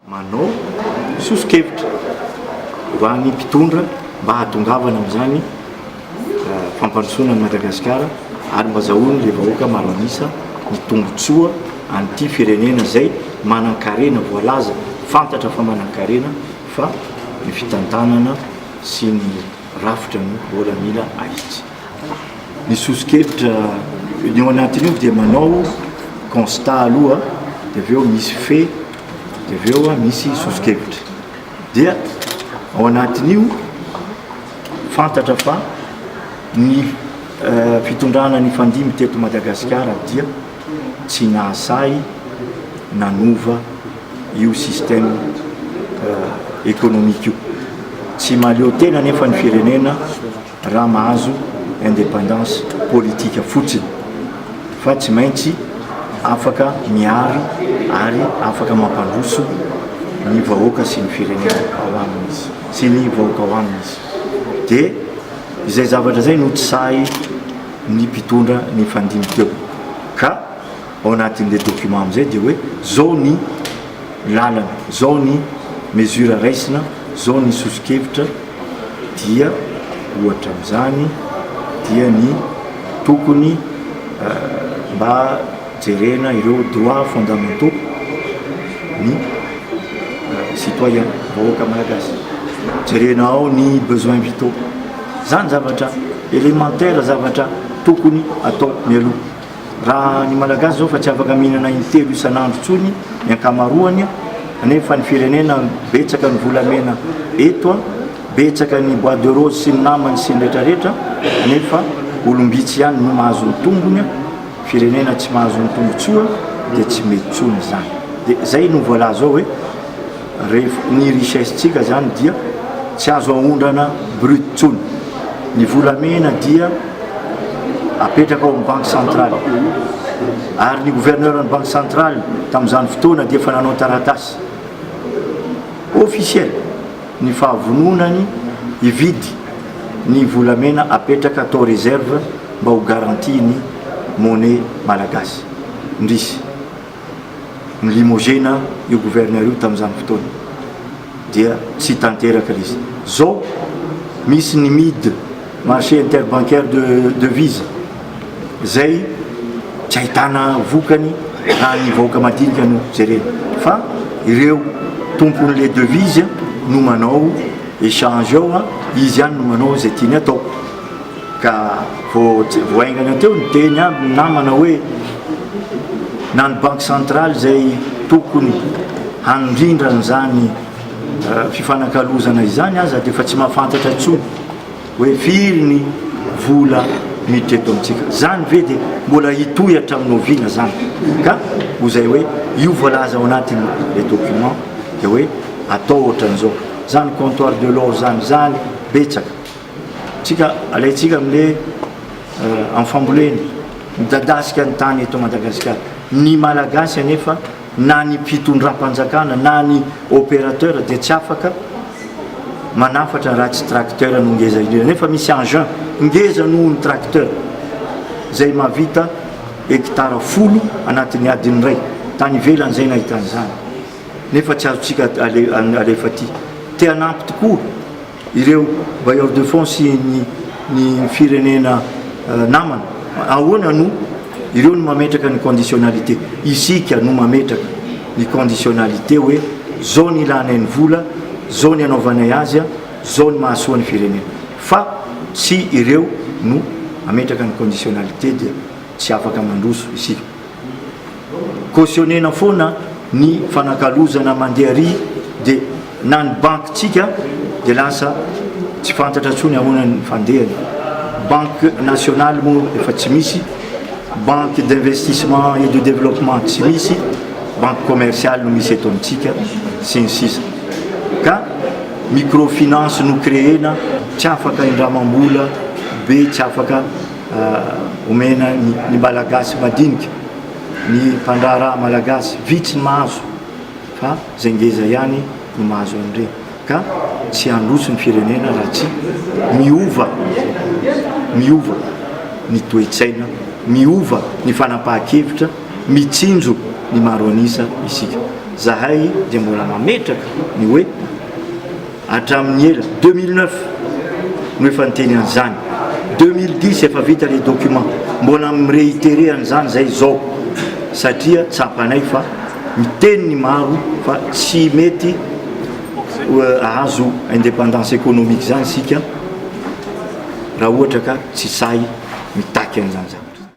Manao soso-kevitra ho an'ny mpitondra mba hahatongavana amin'izany fampandrosoana an'i Madagasikara ary mba azahoan'ilay vahoaka maro an'isa ny tombontsoa an'ity firenena izay manan-karena voalaza, fantatra fa manan-karena fa ny fitantanana sy ny rafitra ny baolina ahitsy. ny soso-kevitra ny ao anatin'io dia manao constat aloha dia avy eo misy fait dia avy eo misy soso-kevitra dia ao anatin'io fantatra fa ny fitondrana nifandimby teto Madagasikara dia tsy nahasahy nanova io système économique io tsy mahaleo tena nefa ny firenena Raha mahazo independance politique fotsiny fa tsy maintsy afaka miaro ary afaka mampandroso ny vahoaka sy ny firenena ao aminy izy sy ny vahoaka ao aminy izy dia izay zavatra izay no tsy sahy ny mpitondra nifandimby teo ka ao anatin'ilay document amin'izay dia hoe zao ny lalana, zao ny mesure raisina, zao ny soso-kevitra, dia ohatra amin'izany dia ny tokony mba jerena ireo droits fondamentaux ny citoyen, vahoaka malagasy, jerena ao ny besoins vitaux, izany zavatra élémentaire, zavatra tokony atao mialoha. Raha ny Malagasy zao fa tsy afaka mihinana intelo isan'andro tsony ny ankamaroany nefa ny firenena betsaka ny volamena eto, betsaka ny bois de rose sy ny namany sy ny retraretra nefa olom-bitsy ihany no mahazo ny tombony, firenena tsy mahazo ny tombotsoa dia tsy mety tsony izany. Dia zay no voalaza ao hoe. Ref, Ny richesse tsika zany dia tsy azo aondrana brut tsony. Ny volamena dia apetraka ao amin'ny banque centrale. Ary ny gouverneur ny banque centrale tamin'izany fotoana dia efa nanao taratasy officiel ny fahavononany hividy ny volamena apetraka tao reserve mba ho garantie ny monnaie malagasy. Indrisy. ni-limoger-na io gouverneur io tamin'izany fotoana dia tsy tanteraka ilay izy. Izao misy ny mid, marché interbancaire de devises, izay tsy ahitana vokany raha ny vahoaka madinika no jerena fa ireo tompon'ilay devise no manao échange ao, izy ihany no manao izay tiany atao. Ka vao haingana teo niteny aby ny namana hoe na ny banky centrale izay tokony handrindra an'izany fifanakalozana izany aza dia efa tsy mahafantatra intsony hoe firy ny vola miditra eto amintsika. Izany ve dia mbola hitohy hatramin'ny oviana izany? Ka ho izay hoe io voalaza ao anatin'ny le document dia hoe atao ohatran'izao. Izany comptoir de l'or izany, izany betsaka. Tsika alaitsika amle am fambolena midadasika ny tany eto Madagasikara. Ny Malagasy anefa na ny mpitondrampanjakana na ny operateur dia tsy afaka manafatra raha tsy tracteur no ngeza indrindra nefa misy engin ngeza noho ny tracteur zay mahavita hectare folo anatin'ny adiny iray. Tany ivelany zay nahitany zany nefa tsy azotsika alefa aty. Te hanampy tokoa. Ireo bailleurs de fonds sy ny ny firenena namana, ahoana no ireo no mametraka ny conditionnalité? Isika no mametraka ny conditionnalité hoe zao ny ilanay ny vola, zao ny anaovanay azy, zao ny mahasoa ny firenena. Fa tsy ireo no mametraka ny conditionnalité dia tsy afaka mandroso isika. cautionner-na foana ny fanakalozana mandeha ary dia na ny banque tsika dia lasa tsy fantatra tsony ahoana ny fandehany banque nationale moa efa tsy misy banque d'investissement et de développement tsy misy banque commerciale no misy eto amintsika sy ny sisa ka microfinance no créer-na tsy afaka indramam-bola be tsy afaka omena ny Malagasy madinika, ny mpandraharaha Malagasy vitsy ny mahazo fa izay ngeza ihany no mahazo an'ireny ka tsy handroso ny firenena raha tsy miova miova ny toe-tsaina, miova ny fanapahan-kevitra, mitsinjo ny maro an'isa isika. Zahay dia mbola mametraka ny hoe. Hatramin'ny ela, deux mille neuf no efa niteny an'izany, deux mille dix efa vita ilay document, mbola mi-reiterer an'izany izay izao satria tsapanay fa miteny ny maro fa tsy mety hahazo independance économique izany isika raha ohatra ka tsy sahy mitaky an'izany zavatra izany.